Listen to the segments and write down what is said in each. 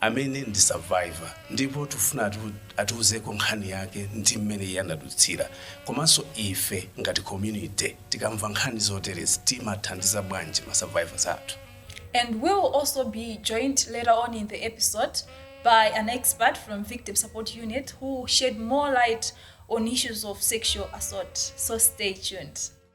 amene ndi survivor ndipo tifuna atu- atiuzeko nkhani yake ndi mmene iye anadutsira komanso ife ngati community tikamva nkhani zoterezi timathandiza bwanji ma survivors athu and we will also be joined later on in the episode by an expert from Victim Support Unit who will shed more light on issues of sexual assault. So stay tuned.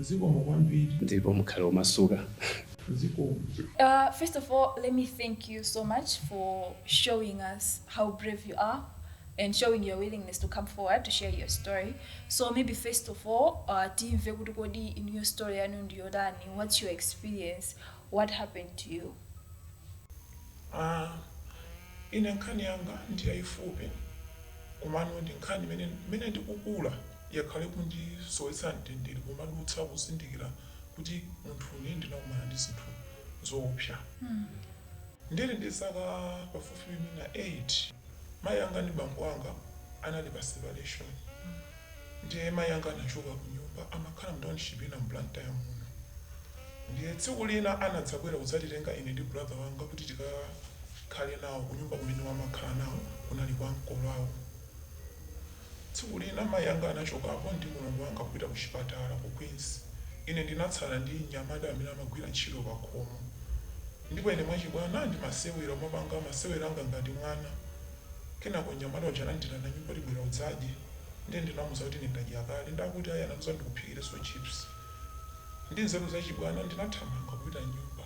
Zikomo kwambiri. Ndipo mukhale omasuka. Zikomo. First of all let me thank you so much for showing us how brave you are and showing your willingness to come forward to share your story so maybe first of all uh, timve kuti kodi inuyo story yanu ndiyotani what's your experience what happened to you Ah, ine nkhani yanga ndi yayifupi komano ndi nkhani imene imene ndikukula yakhala ikundisowetsa mtendere kumadutsa kuzindikira kuti munthu ine ndinakumana ndi zinthu zoopsa ndili ndi zaka pafupifupi mwina 8 mayi anga ndi bambo anga anali pa separation ndiye mayi anga anachoka ku nyumba amakhala mu township ina mu Blantyre muno ndiye tsiku lina anadzabwera kudzatitenga ine ndi brother wanga kuti tikakhale nawo ku nyumba kumene amakhala nawo kunali kwa makolo awo Tsiku lina mayi anga anachokapo ndi mlongo wanga kupita kuchipatala ku Queens. Ine ndinatsala ndi mnyamata amene amagwira ntchito pakhomo, ndipo ine mwachibwana ndimasewera, kumapanga masewera anga ngati mwana. Kenako mnyamata uja anandiitana m'nyumba kuti, Bwera udzadye. Ndiye ndinamuza kuti, Ine ndadya kale. Ndiye akuti, Ayi, anandiuza kuti, Ndikuphikirenso chips. Ndi nzeru zachibwana, ndinathamanga kupita m'nyumba.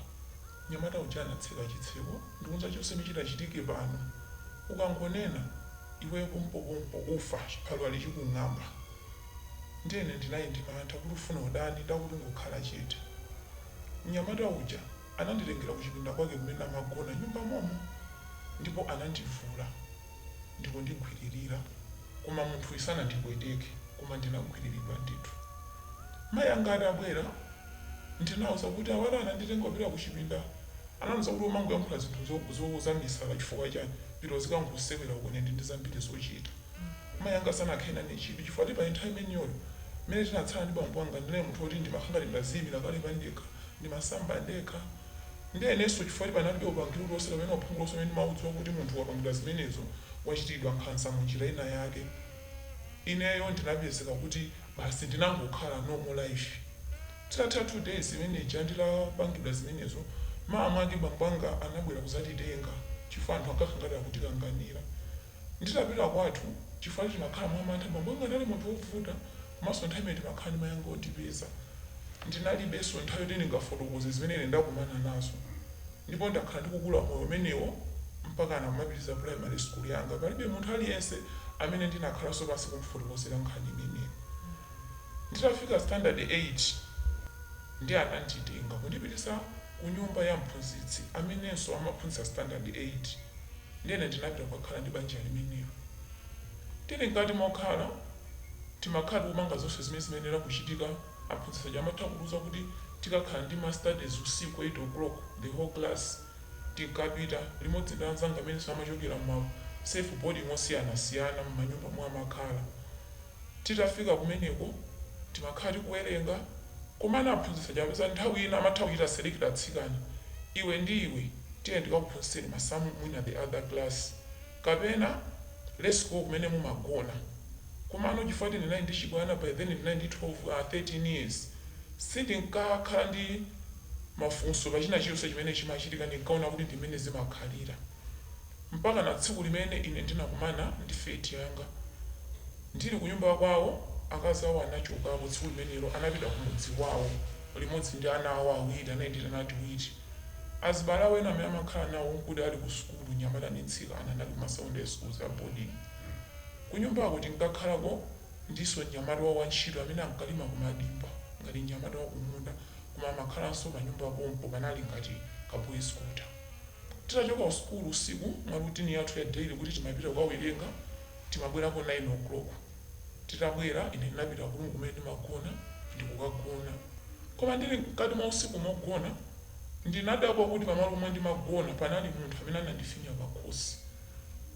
Mnyamata uja anatseka chitseko, ndikundiuza, Chonse chimene chitachitike pano ukangonena. iweyo pompopompo ufa chiphaliwali chikung'amba ndiye ine ndinali ndi mantha kuti ufuna utani nde akuti ungokhala chete mnyamata uja ananditengera kuchipinda kwake kumene amagona m'nyumba momo ndipo anandivula ndikundigwililira koma munthuyi sanandipweteke koma ndinagwililidwa ndithu mayi anga atabwera Ndinawauza kuti abale ananditenga kupita ku chipinda anandiuza kuti umangoyankhula zinthu zo zo zamisala chifukwa chani pita uzikangosewera uko ine ndili ndi zambiri zochita. Mayi anga sanakhale nane chidwi chifukwa ti pa nthawi imeniyoyo mmene tinatsala ndi bambo anga ndinali munthu oti ndimakhala ngati ndaziyimira kale pandekha, ndimasamba ndekha nde inenso chifukwa ti panalibe upangili uliwonse kapena uphungu uliwonse umene ndimaudziwa kuti munthu ukapangidwa zimenezo wachitiridwa nkhanza munjira ina yake ineyo ndinapezeka kuti basi ndinangokhala normal life titatha 2 days imene ija nditapangidwa zimenezo mmawa mwake bambo anga anabwera kuzatitenga chifukwa anthu ankakhala ngati akutikanganira nditapita kwathu chifukwa timakhala mwa mantha bambo anga anali munthu ovuta komanso nthawi imene timakhala ndi mai anga ondipeza ndinalibenso nthawi yoti ndingafotokoze zimene ine ndakumana nazo Ndipo ndakhala ndikukula moyo umenewo mpakana kumapitiriza primary school yanga. Palibe munthu aliyense amene ndinakhalanso pansi kumufotokozera nkhani imeneyo. Nditafika standard 8 ndiye ananditenga kundipititsa kunyumba ya mphunzitsi amenenso amaphunzitsa standard 8. Ndiye ine ndinapita kukakhala ndi banja limenelo. Tili mkati mokhala, timakhala tikupanga zonse zimene zimayenera kuchitika. Aphunzitsi aja amatha kutiuza kuti tikakhala ndi ma studies usiku 8 o'clock the whole class tinkapita limodzi ndi anzanga amenenso amachokera mma self boarding osiyanasiyana mmanyumba omwe amakhala. Titafika kumeneko timakhala tikuwerenga komano aphunzitsi aja amapeza nthawi ina amatha kuchita select atsikana, iwe ndi iwe tiye ndikakuphunzitseni masamu mwina the other class. kapena let's go kumene mumagona komano chifukwa kuti ndinali ndi chibwana by then ndinali ndi 12 or 13 years sindinkakhala ndi mafunso pa china chilichonse chimene chimachitika ndinkaona kuti ndi mmene zimakhalira mpakana tsiku limene ine ndinakumana ndi fate yanga ndili kunyumba kwawo akazi awo anachokapo tsiku limenelo anapita kumudzi wawo limodzi ndi ana awo awiri anali ndi tiana tiwiri Azibale awo ena amene amakhala nawo n'kuti ali kusukulu, mnyamata ndi mtsikana, anali ku ma sekondale sukuluzi a boding'i. Kunyumbako tinkakhalako ndi iwo mnyamata wantchito amene ankalima kumadimba ngati mnyamata wa kumunda koma amakhalanso panyumba pompo, panali ngati ka boys quarter. Titachoka kusukulu usiku, mwa routine yathu ya daily kuti timapita kukawerenga, timabwerako 9:00. Titabwera, ine ndinapita kuroom kumene ndimagona ndi kukagona. Koma ndiri mkati mwa usiku mogona, ndinadabwa kuti pamalo pomwe ndimagona panali munthu amene anandifinya pakhosi.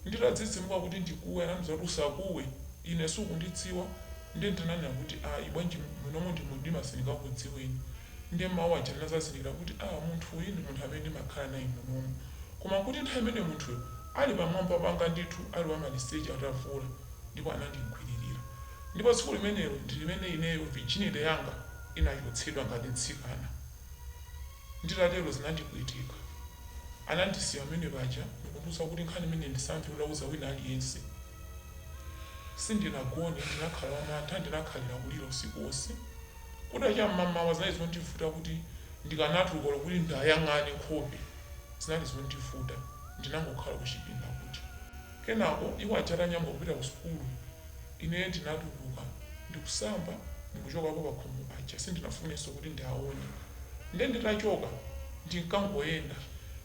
Nditadzidzimuka kuti ndikuwe, anandiuza kuti, Usakuwe, ine sukundidziwa. Ndiye ndinanena kuti, Ayi, bwanji, munomo ndi mumdima sindingakudziweni. Ndiye mawu aja ndinadzazindikira kuti, ah, munthu uyu ndi munthu amene ndimakhala naye munomo. Koma nkuti nthawi imeneyo munthuyo ali pamwamba panga ndithu ali wamaliseche atavula. ndipo anandigwiririra. Ndipo tsiku limenelo ndi limene ineyo virginity yanga inachotsedwa ngati mtsikana. Atatero zinandipweteka. Anandisiya pamene paja ndikundiuza kuti nkhani imeneyi ndisamve utauza wina aliyense. Sindinagone, ndinakhala wamantha, ndinakhalira kulira usiku wonse. Kutacha m'mamawa zinali zondivuta kuti ndikanatuluka olo kuti ndiayang'ane nkhope. Zinali zondivuta. Ndinangokhala kuchipinda kuti. Kenako iwo aja atanyamuka kupita ku sukulu, ine ndinatuluka ndikusamba ndikuchokapo pakhomo paja sindinafunenso kuti ndiawone. Nde nditachoka ndinkangoyenda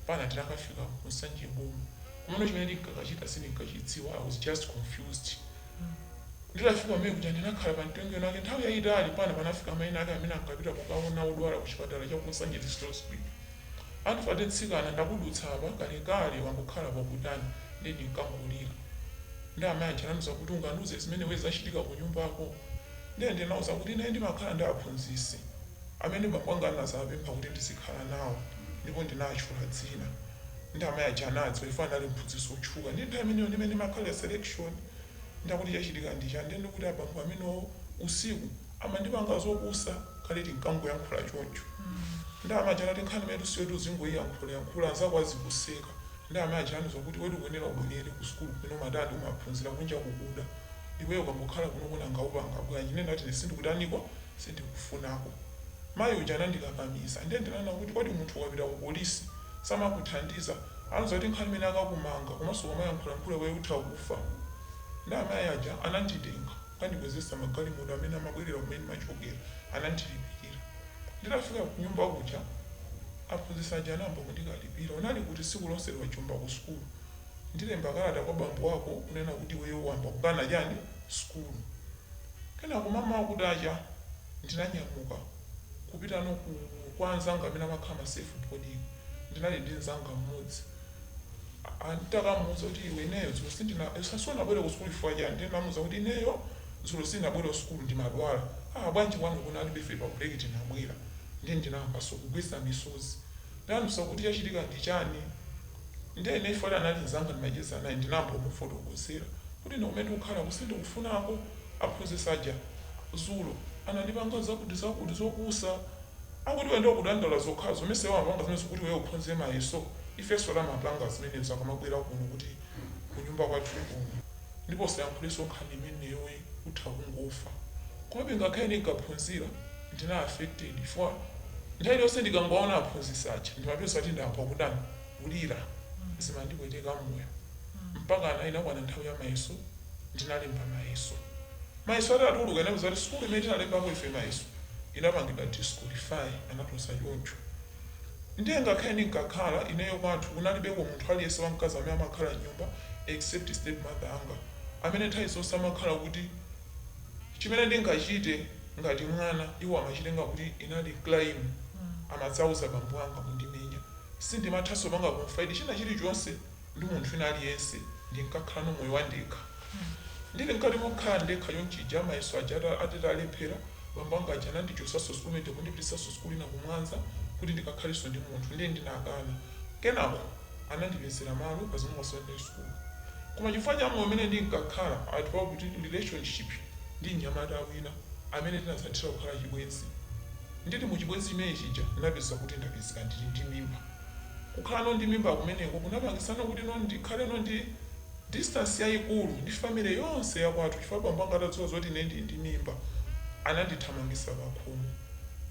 mpana ndinakafika ku Nsanje Boma komano chimene ndinkakachita sindinkachidziwa I was just confused. Nditafika kumene kuja ndinakhala pa mtengo winawake nthawi yayitali mpana panafika amayi ena ake amene ankapita kukawona odwala ku chipatala cha ku Nsanje District Hospital. Andfate mtsikana ndakudutsa apa kalekale wangokhala pakutani nde ndinkangolira nde amayi aja anandiuza kuti ungandiuze zimene iwe zachitika kunyumbako nde ndinawauza kuti ine ndimakhala ndi aphunzitsi amene bambo anga anadzawapempha kuti ndizikhala nawo ndipo ndinatchula dzina nde amayi aja anadziwa chifukwa anali mphunzitsi otchuka nde nthawi imeneyo ndimene ndimakhalira selection nde akuti chachitika ndichani nde ndikuti abambo amenowo usiku Amandipanga zopusa kale tinkangoyankhula choncho nde amayi aja anati nkhani imenetu siyoti uzingoiyankhula yankhula anzako azikuseka nde amayi aja anandiuza kuti iwetu ukuyenera ubwerere ku sukulu kumene umatani umaphunzira kunja kukuda iweyo ukangokhala kunoko nanga upanga bwanji nde ndinati ine sindikutaniko sindikufunako mayi uja anandikakamiza nde ndinanena kuti kodi munthu ukapita ku polisi samakuthandiza anandiuza kuti nkhani imene akakumanga komanso ukamayankhulayankhula iweyo utha kufa nde amayi aja ananditenga Anandikwezetsa magalimoto amene amabwerera kumene ndimachokera. Anandilipirira. Nditafika kunyumba kuja, aphunzitsi aja anayamba kundikalipira. Unali kuti tsiku lonseli wajomba kusukulu? Ndilemba kalata kwa bambo ako kunena kuti iweyo wayamba kukana chani? Sukulu. Kenako mamawa kutacha, ndinanyamuka kupitano kwa anzanga amene amakhala ma self boarding. Ndinali ndi mzanga mmodzi. Aaa nditakamuuza kuti iwe ineyo dzulo sindina usa sunabwere kusukulu chifukwa chani ndiye ndinamuuza kuti ineyo dzulo sindinabwere kusukulu ndimadwala aa bwanji kwanu kunalibe ife pa break tinabwera ndiye ndinayambaso kugwetsa misozi ndinamuuza kuti chachitika ndi chani ndiye ineyo chifukwa anali nzanga ndimacheza naye ndinayamba kumufotokozera kuti ine kumene ndikukhalaku sindikufunako aphunzitsi aja dzulo anandipanga zakuti zakuti zopusa Akuti iwe nde ukudandaula zokhazo mesa iwo amapanga zimenezo kuti iweyo ukhonze mayeso ifeso timapanga zimenezo akamabwera kuno kuti kunyumba kwathu kuno ndipo usayankhuleso nkhani imeneyoyi utha kungofa komabe ngakhale ndinkaphunzira ndinali affected chifukwa nthawi iliyonse ndikangowaona aphunzitsi aja ndimapeza kuti ndayamba kutani kulira zimandipweteka mmoyo mpakana inakwana nthawi ya mayeso ndinalemba mayeso mayeso atatuluka inapezeka kuti sukulu imene tinalembapo ife mayeso inapangidwa disqualify anatulutsa choncho ndiye ngakhale ndinkakhala ineyo kwathu kunalibeko munthu aliyense wamkazi amene amakhala mnyumba except step mother anga amene nthawi zonse amakhala kuti chimene ndingachite ngati mwana iwo amachitenga kuti inali crime amadzauza bambo anga kundimenya Sindimathanso kupanga confide china chilichonse ndi munthu wina aliyense ndinkakhalano moyo wandekha. Ndili mkati mokhala ndekha chonchija mayeso aja atitalephera bambo anga aja anandichotsanso sukulu ndikundipititsanso sukulu ina ku Mwanza kuti ndikakhalenso ndi munthu nde ndinakana kenako anandipezera malo pa zomwe pa secondary school koma chifukwa cha moyo umene ndinkakhala I developed relationship ndi mnyamata wina amene tinadzathera kukhala chibwenzi. Ndili mu chibwenzi chimene chija ndinapezeka kuti ndapezeka ndili ndi mimba. Kukhalano ndi mimba kumeneko kunapangitsano kuti no ndikhaleno ndi distance yayikulu ndi family yonse ya kwathu chifukwa bambo anga atadziwa zoti ine ndili ndi mimba anandithamangitsa pakhomo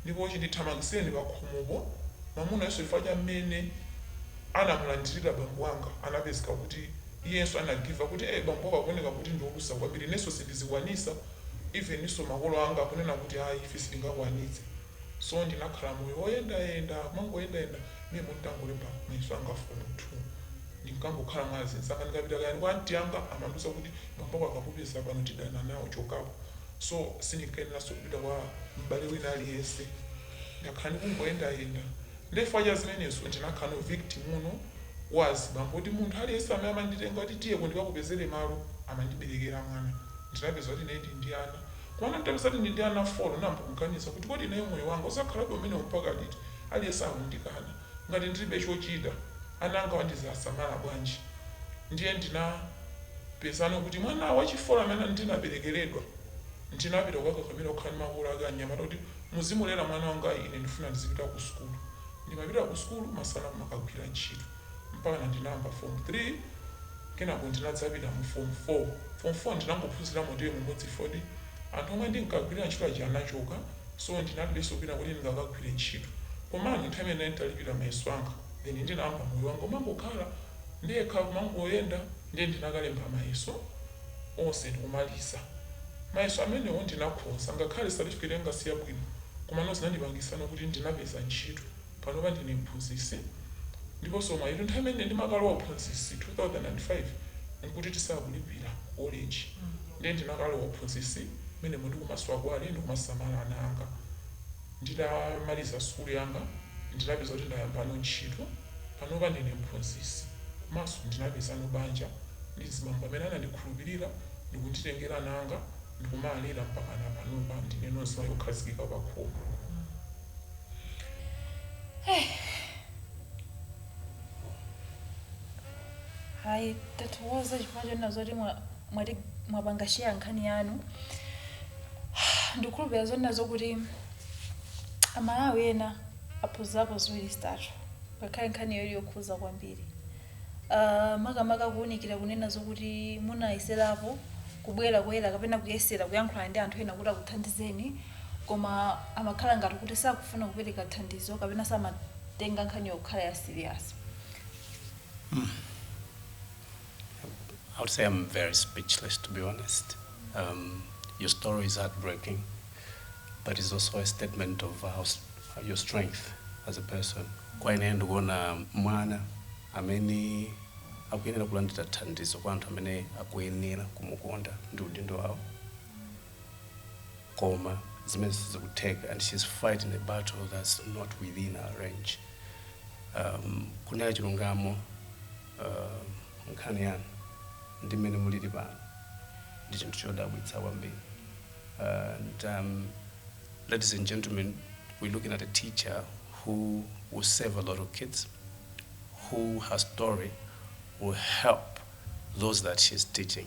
ndipo chindithamangitsireni pakhomopo mamunayonso chifukwa cha mmene anamulandirira bambo anga anapezeka kuti iyenso anagiva kuti eeh bambowa akuoneka kuti ndi olusa kwambiri inenso sindizikwanitsa even nso makolo anga akunena kuti ayi ife sitingakwanitse so ndinakhala moyo woyendayenda kumangoyendayenda memo nditangolemba mayeso anga fomu 2 ndinkangokhala mwa azinzanga ndikapita kayani kwa anti anga amandiuza kuti bambo ako akakupeza pano tidana nawo chokapo so sindinkayeneranso kupita kwa m'bale wina aliyense ndakhala ndikungoyendayenda Nde chifukwa cha zimenezo ndinakhalano victim uno wa azibambo kuti munthu aliyense amene amanditenga kuti tiyeko ndikakupezere malo amandiberekera mwana. Ndinapeza kuti ine ndili ndi ana. Komano nditapeza kuti ndili ndi ana 4 ndinayamba kuganiza kuti kodi ineyo moyo wanga uzakhalabe umenewo mpaka liti? Aliyense akundikana. Ngati ndilibe chochita, ana angawa ndizawasamala bwanji? Ndiye ndinapezano kuti mwana wa chi 4 amene ndinaberekeredwa ndinapita kukakakamira kukhala ndi makolo ake anyamata kuti Muzimulera mwana wanga ine ndifuna ndizipita ku sukulu. Ndimapita ku sukulu masana kumakagwira ntchito mpakana ndinayamba Fomu 3 kenako ndinadzapita mu Fomu 4. Fomu 4 ndinangophunzira motiwe mumodzi fodi anthu omwe ndinkagwirira ntchito aja anachoka so ndinalibenso kwina koti ndingakagwire ntchito komano nthawi imene ndinali nditalipira mayeso anga then ndinayamba moyo wanga omangokhala ndekha kumangoyenda Ndiye ndinakalemba mayeso onse ndikumaliza. Mayeso amenewo ndinakhoza, ngakhale certificate yanga siyabwino komano zinandipangitsano kuti ndinapeza ntchito. Panopa ndine mphunzitsi ndiponso mwayitu nthawi imene ndimakalowa uphunzitsi 2005 nkuti tisakulipira ku college ndiye ndinakalowa uphunzitsi menemo ndikumaswa kwale ndikumasamala ana anga. Nditamaliza sukulu yanga ndinapeza kuti ndayambano ntchito. Panopa ndine mphunzitsi komanso ndinapezano banja ndi mzibambo amene anandikhulupirira ndikunditengera ana anga ndikumawalera mpakana panopa ndineno mzimayi okhazikika pakhomo. Ayi, tathokoza chifukwa chonena zoti mwa- mwapanga share nkhani yanu. Ndikukhulupirira zonena zokuti Amalawi ena aphunzirapo ziwiri zitatu ngakhale nkhani iyo ili yokhuza kwambiri. Ah, makamaka kuwunikira kunena zokuti munayeserapo kubwera poyera kapena kuyesera kuyankhulana ndi anthu ena kuti akuthandizeni koma amakhala ngati kuti sakufuna kupereka thandizo kapena samatenga nkhaniyo kukhala ya serious. I would say I'm very speechless, to be honest. Um, your story is heartbreaking, but it's also a statement of how, s- your strength as a person. Kwa ine ndikuona mwana amene akuyenera kulandira thandizo kwa anthu amene akuyenera kumukonda ndi udindo wawo koma zimene sizikutheka and she's fighting a battle that's not within her range um, kunena chilungamo uh, nkhani yanu ndi mmene mulili pano ndi chinthu chodabwitsa kwambiri and um, ladies and gentlemen we're looking at a teacher who will save a lot of kids who her story will help those that she's teaching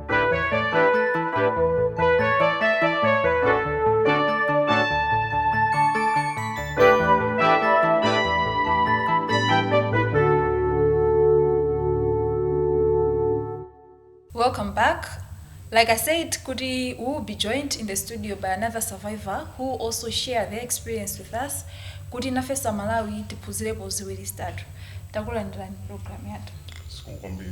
Welcome back. Like I said, Kuti we will be joined in the studio by another survivor who will also share their experience with us. Kuti nafesa Malawi tiphunzirepo ziwiri zitatu. Takulandirani program yathu. sikukwambira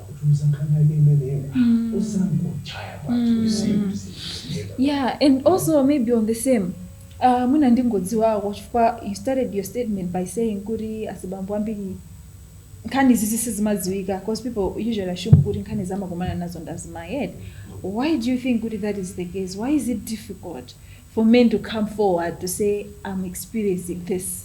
akutiuza nkhani yake imeneyo osangochaya kwathu yeah and also maybe on the same uh, mwina ndingodziwako chifukwa you started your statement by saying kuti azibambo ambiri nkhani izizi sizimadziwika because people usually assume kuti nkhani zi amakumana nazo ndi azimayi eti why do you think kuti that is the case why is it difficult for men to come forward to say i'm experiencing this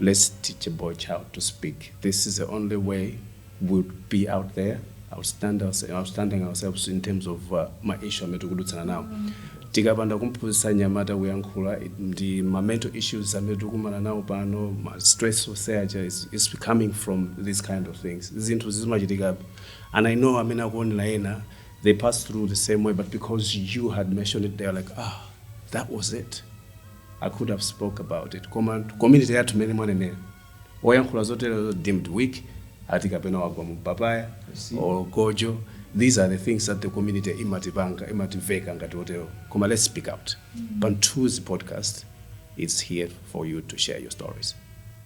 let's teach a boy child to speak this is the only way we'll be out there outstand ourse- outstanding ourselves in terms of uh, ma issue amene tikudutsana nawo tikapanda kumphunzitsa mnyamata kuyankhula it- ndi ma mental issues amene tikukumana nawo pano ma stress oseacha is, is coming from these kind of things zinthu zimachitikapo and i know amene akuonera ena they pass through the same way but because you had mentioned it they are like ah that was it I could have spoke about it koma community yathu mmene mwanenera oyankhula zoterozo deemed weak ati kapena wagwa mu papaya or gojo these are the things that the community imatipanga imativeka ngati otero koma let's speak out Pamthunzi podcast it's here for you to share your stories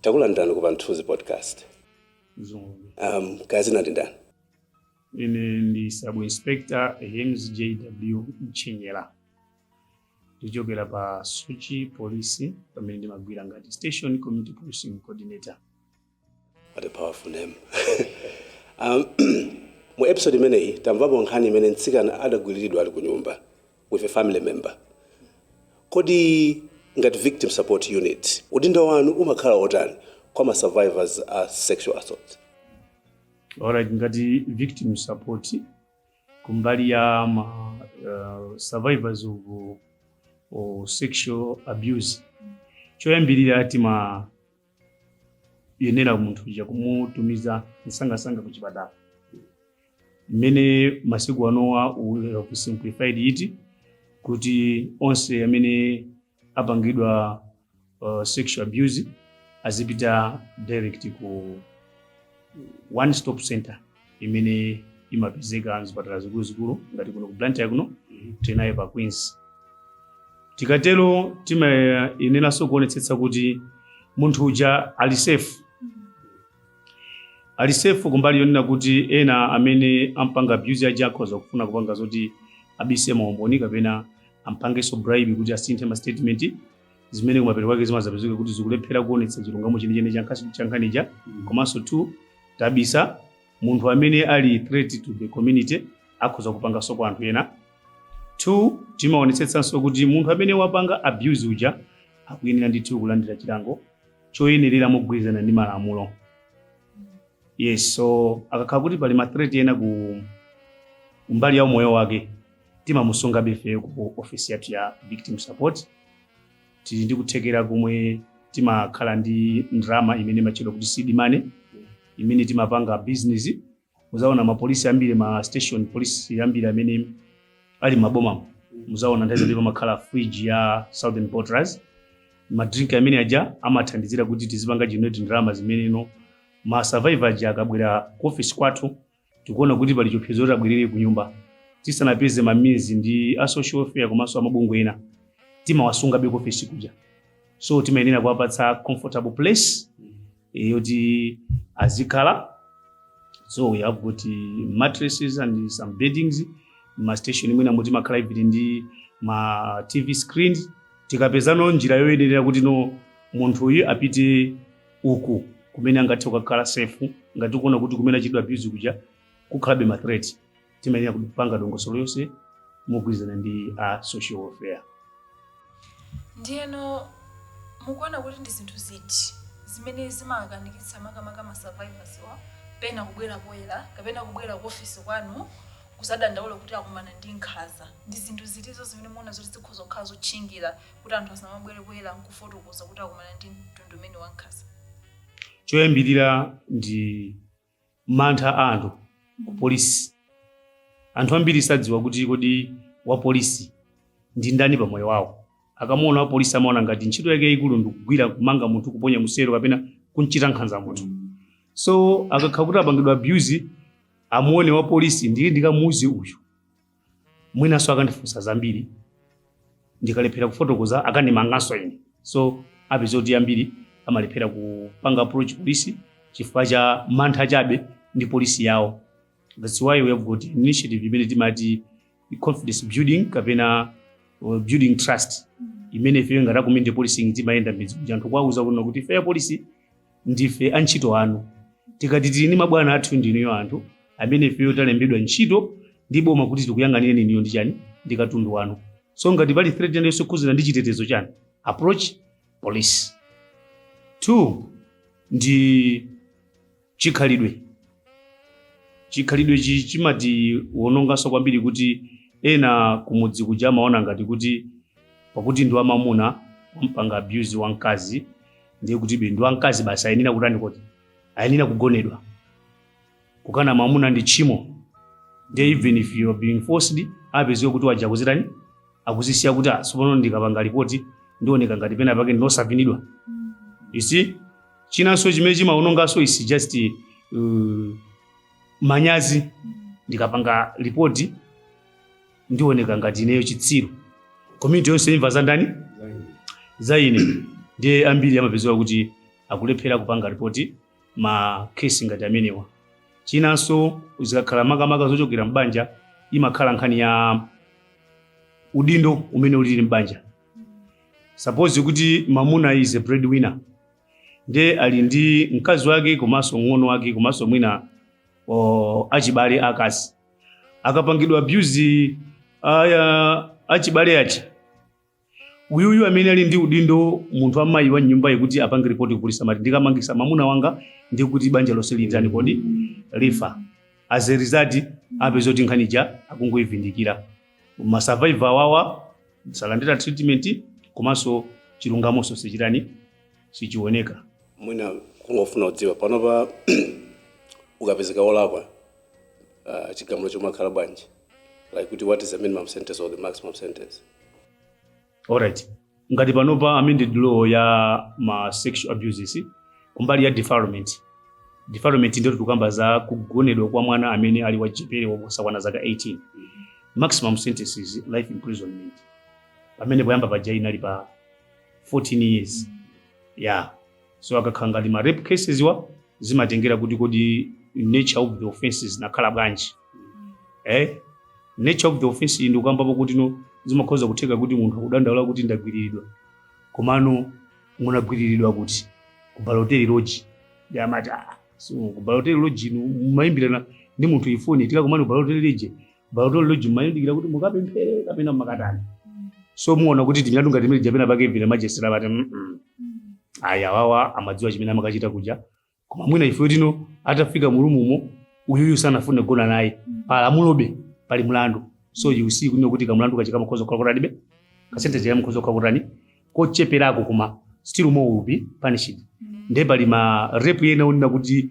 Takulandirani ku Pamthunzi Podcast. Um, kaya dzina ndi ndani? Ine ndi Sub Inspector James JW Mchenyera. Ndichokera pa Soche Police pamene ndimagwira ngati Station Community Policing Coordinator. What a powerful name. um, mu episode imeneyi tamvapo nkhani imene mtsikana adagwiriridwa ali ku nyumba with a family member. Kodi ngati victim support unit udindo wanu umakhala otani kwa ma survivors a sexual assault? Alright, ngati victim support kumbali ya ma uh, survivors of, of sexual abuse choyambirira tima yenera munthu uja kumutumiza msangasanga ku chipatala mmene masiku anowa ulera ku simplified eti kuti onse amene apangidwa uh, sexual abuse azipita direct ku one stop center imene imapezeka mzipatala zikuluzikulu ngati kuno ku blantyre kuno tinayo pa queens tikatero timayeneranso kuonetsetsa kuti munthu uja ali safe ali safe kumbali yonena kuti ena amene ampanga abuse aja akhoza kufuna kupanga zoti abise maumboni kapena ampangenso bribe kuti asinthe ma statement zimene kumapeto kwake zimazapezeka kuti zikulephera kuonetsa chilungamo chenicheni cha nkhani- cha nkhani ija komanso two tabisa munthu amene ali threat to the community akhoza kupanganso kwa anthu ena two timaonetsetsanso kuti munthu amene wapanga abuse uja akuyenera ndithu kulandira chilango choyenerera mogwirizana ndi malamulo yes so akakhala kuti pali mathreat ena ku mbali ya umoyo wake timamusungabe ifeyo ku office yathu ya victim support tili ndi kuthekera komwe timakhala ndi ndalama imene imatchedwa kuti seed money imene timapanga business muzaona mapolisi ambiri ma station police ambiri amene ali m'mabomamo muzaona nthawi zambiri pamakhala fridge ya southern bottlers madrink amene aja amathandizira kuti tizipanga generate ndalama zimene no ma survivor aja akabwera ku office kwathu tikuona kuti pali chiopsezo kuti abwerere ku nyumba tisanapeze ma means ndi a social welfare komanso amabungwe ena timawasungabe ku ofesi kuja so timayenera kuwapatsa comfortable place eh, yoti azikhala so we have got eh, mattresses and some beddings ma station mwinamo timakhala even ndi ma tv screens tikapezano njira yoyenerera kuti no munthu uyu apite uku kumene angathe kukakhala safe ngati ukuona kuti kumene achitidwa abuse kuja kukhalabe ma threat timayenera kupanga dongosolo yonse mogwirizana ndi a social welfare ndiyeno mukuona kuti ndi zinthu ziti zimene zimakanikitsa makamaka ma survivors wa mwina pena kubwera poyera kapena kubwera ku ofisi kwanu kuzadandaula kuti akumana ndi nkhanza ndi zinthu zitizo zimene muona zoti zikhoza kukhala zotchingira kuti anthu asamabwere poyera nkufotokoza kuti akumana ndi mtundu umene wa nkhanza choyambirira ndi mantha a anthu ku polisi anthu ambiri sadziwa kuti kodi wapolisi ndi ndani pa moyo wawo akamuona wapolisi amaona ngati ntchito yake yayikulu ndikugwira kumanga munthu kuponya mu cell kapena kumchita nkhanza munthu so akakhala kuti apangidwa abuse amuone wapolisi ndiye ndikamuuze uyu mwinanso akandifunsa zambiri ndikalephera kufotokoza akandimanganso ine so upeza kuti ambiri amalephera kupanga approach polisi chifukwa cha mantha chabe ndi polisi yawo that's why we have got initiative imene timati confidence building kapena uh, building trust imene ifeyo ngati a community policing timayenda m'midzi kuti anthu kuwauza kuno kuti ifeyo polisi ndife antchito anu tikati tili ndi mabwana athu ndinuyo anthu amene ifeyo talembedwa ntchito ndi boma kuti tikuyang'anireni inuyo ndi chani ndi katundu wanu so ngati pali threat yonse yokhudzana ndi chitetezo chanu approach police two ndi chikhalidwe chikhalidwe chi chimatiwononganso kwambiri kuti ena kumudzi kuja amaona ngati kuti pakuti ndi wamamuna wampanga abuse wamkazi ndiye kuti be ndi wamkazi basi ayenera kutani kodi ayenera kugonedwa kukana mwamuna ndi tchimo ndiye even if you are being forced apeziwe kuti waja akuzitani akuzisiya kuti ah tsopano ndikapanga ripoti ndioneka ngati pena pake ndine wosavinidwa you see chinanso chimene chimaononganso is just uh, manyazi ndikapanga ripoti ndioneka ngati ineyo chitsiru community yonse imva za ndani za ine ndiye ambiri amapezewa kuti akulephera kupanga ripoti ma case ngati amenewa chinanso zikakhala makamaka zochokera m'banja imakhala nkhani ya udindo umene ulili m'banja suppose kuti mamuna is a breadwinner ndiye ali ndi mkazi wake komanso mng'ono wake komanso mwina o, achibale akazi akapangidwa abuse aya achibale aja uyuyu amene ali ndi udindo munthu amayi wa m'nyumbayi kuti apange ripoti kupolisi amati ndikamangitsa mamuna wanga ndi kuti banja lonse litani kodi lifa as a result upeza kuti nkhani ija akungoyivindikira ma survivor awawa salandira treatment komanso chilungamonso sichitani sichioneka mwina kungofuna kudziwa panopa ukapezeka wolakwa uh, chigamulo chimakhala bwanji like kuti what is the minimum sentence or the maximum sentence alright ngati panopa amended law ya ma sexual abuses kumbali ya defilement defilement ndiye kuti tikukamba za kugonedwa kwa mwana amene ali wachichepere wosakwana zaka 18 maximum sentence is life imprisonment pamene poyamba paja inali pa 14 years yeah so akakhala ngati ma rape cases wo zimatengera kuti kodi nature of the offense zinakhala bwanji eh nature of the offense ndikukambapo kuti no zimakhoza kutheka kuti munthu akudandaula kuti ndagwiriridwa komano munagwiriridwa kuti ku Balotelli Lodge ndiye amati ah so ku Balotelli Lodge inu mumayimbirana ndi munthuyo foni tikakumane ku Balotelli Lodge Bautolo Lodge mmayembekezera kuti mukapemphere kapena makatani. So muona kuti timilandu ngati mili japena pake vina ma magistrate but. Mm -mm. Ayi awawa amadziwa chimene amakachita kuja. Koma mwina ife tino atafika mu room-mo uyuyu sanafune kugona naye. Pa lamulobe pali mlandu. So you see kuno kuti kamlandu kachitika mukhoza kukhala kutani be. Ka sentence ija mukhoza kukhala kutani. Kocheperako koma still more you will be punished. Ndiye pali ma rape ena onena kuti